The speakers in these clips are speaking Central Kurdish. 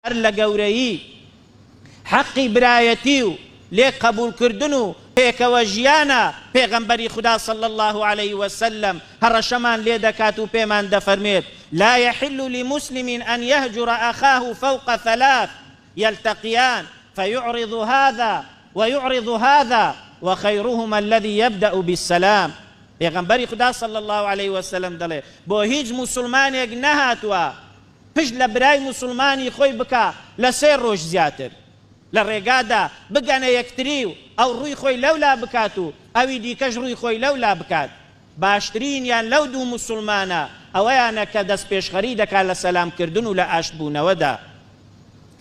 هەر لە گەورەیی حەقی برایەتی و لێک قەبووڵ کردن و پێکەوە ژیانە، پێغەمبەری خودا صلی اللە علیە وسلم هەڕەشەمان لێ دەکات و پێمان دەفەرموێت، لا یحل لمسلم ان یهجر اخاه فوق ثلاث یلتقیان فیعرض هذا ویعرض هذا وخیرهما الذی یبدأ بالسلام پێغەمبەری خودا صلی اللە علیە وسلم دەڵێت، بۆ هیچ موسڵمانێک نەهاتووە، پشت لە برای موسوڵمانی خۆی بکا لە سێ ڕۆژ زیاتر لە ڕێگادا بگەنە یەکتری و ئەو ڕووی خۆی لەولا بکات و ئەوی دیکەش ڕووی خۆی لەولا بکات، باشترینیان لەو دوو موسوڵمانە ئەوەیانە کە دەستپێشخەری دەکا لە سەلامکردن و لە ئاشتبوونەوەدا.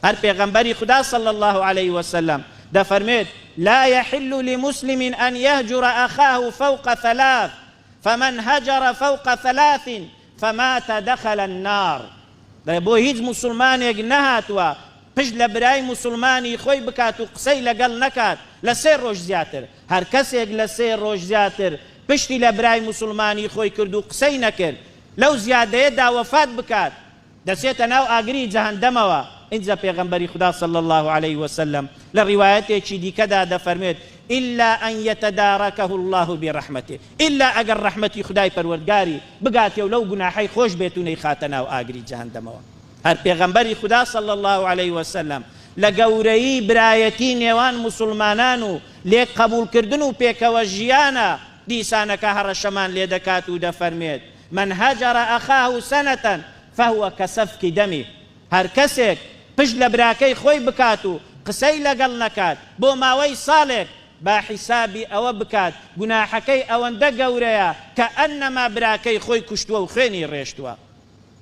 هەر پێغەمبەری خودا صلی اللە علیە وسلم دەفەرموێت، لا یحل لمسلم ان یهجر اخاه فوق ثلاث، فمن هجر فوق ثلاث فمات دخل النار دەڵێ بۆ هیچ موسوڵمانێک نەهاتووە پشت لە برای موسوڵمانی خۆی بکات و قسەی لەگەڵ نەکات لە سێ ڕۆژ زیاتر هەر کەسێک لە سێ ڕۆژ زیاتر پشتی لە برای موسوڵمانی خۆی کرد و قسەی نەکرد لەو زیادەیەدا وەفات بکات دەچێتە ناو ئاگری جەهەندەمەوە ئینجا پێغەمبەری خودا صلی اللە علیە وسلم لە ڕیوایەتێکی دیکەدا دەفەرموێت الا ان یتدارکه اللە برحمتە ئیلا ئەگەر ڕەحمەتی خودای پەروەردگاری بگاتێ و لەو گوناحەی خۆش بێت و نەیخاتە ناو ئاگری جەهەندەمەوە. هەر پێغەمبەری خودا صلی اللە علیە وسلم لە گەورەیی برایەتی نێوان موسوڵمانان و لێک قەبوڵکردن و پێکەوە ژیانە دیسانەکە هەڕەشەمان لێ دەکات و دەفەرمێت، من هجر اخاه سنە فهو کسفک دمه، هەر کەسێک پشت لە براکەی خۆی بکات و قسەی لەگەڵ نەکات بۆ ماوەی ساڵێک، با حیسابی ئەوە بکات گوناحەکەی ئەوەندە گەورەیە کەئەننەما براکەی خۆی کوشتووە و خوێنی ڕێشتووە.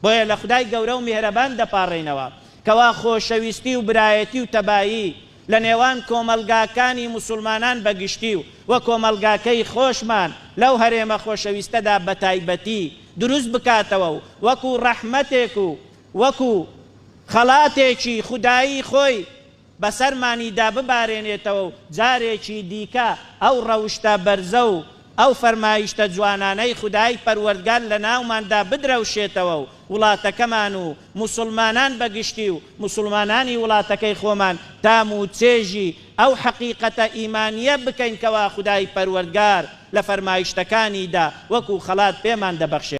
بۆیە لە خودای گەورە و میهرەبان دەپاڕێینەوە کەوا خۆشەویستی و برایەتی و تەبایی لە نێوان کۆمەڵگاکانی موسوڵمانان بە گشتی و وە کۆمەڵگاکەی خۆشمان لەو هەرێمە خۆشەویستەدا بە تایبەتی دروست بکاتەوە و وەکو ڕەحمەتێک و وەکو خەڵاتێکی خودایی خۆی بەسەرمانیدا ببارێنێتەوە و جارێکی دیکە ئەو ڕەوشتە بەرزە و ئەو فەرمایشتە جوانانەی خودای پەروەردگار لەناوماندا بدرەوشێتەوە و وڵاتەکەمان و موسڵمانان بە گشتی و موسڵمانانی وڵاتەکەی خۆمان تام و چێژی ئەو حەقیقەتە ئیمانییە بکەین کەوا خودای پەروەردگار لە فەرمایشتەکانیدا وەکو خەڵات پێمان دەبەخشێت.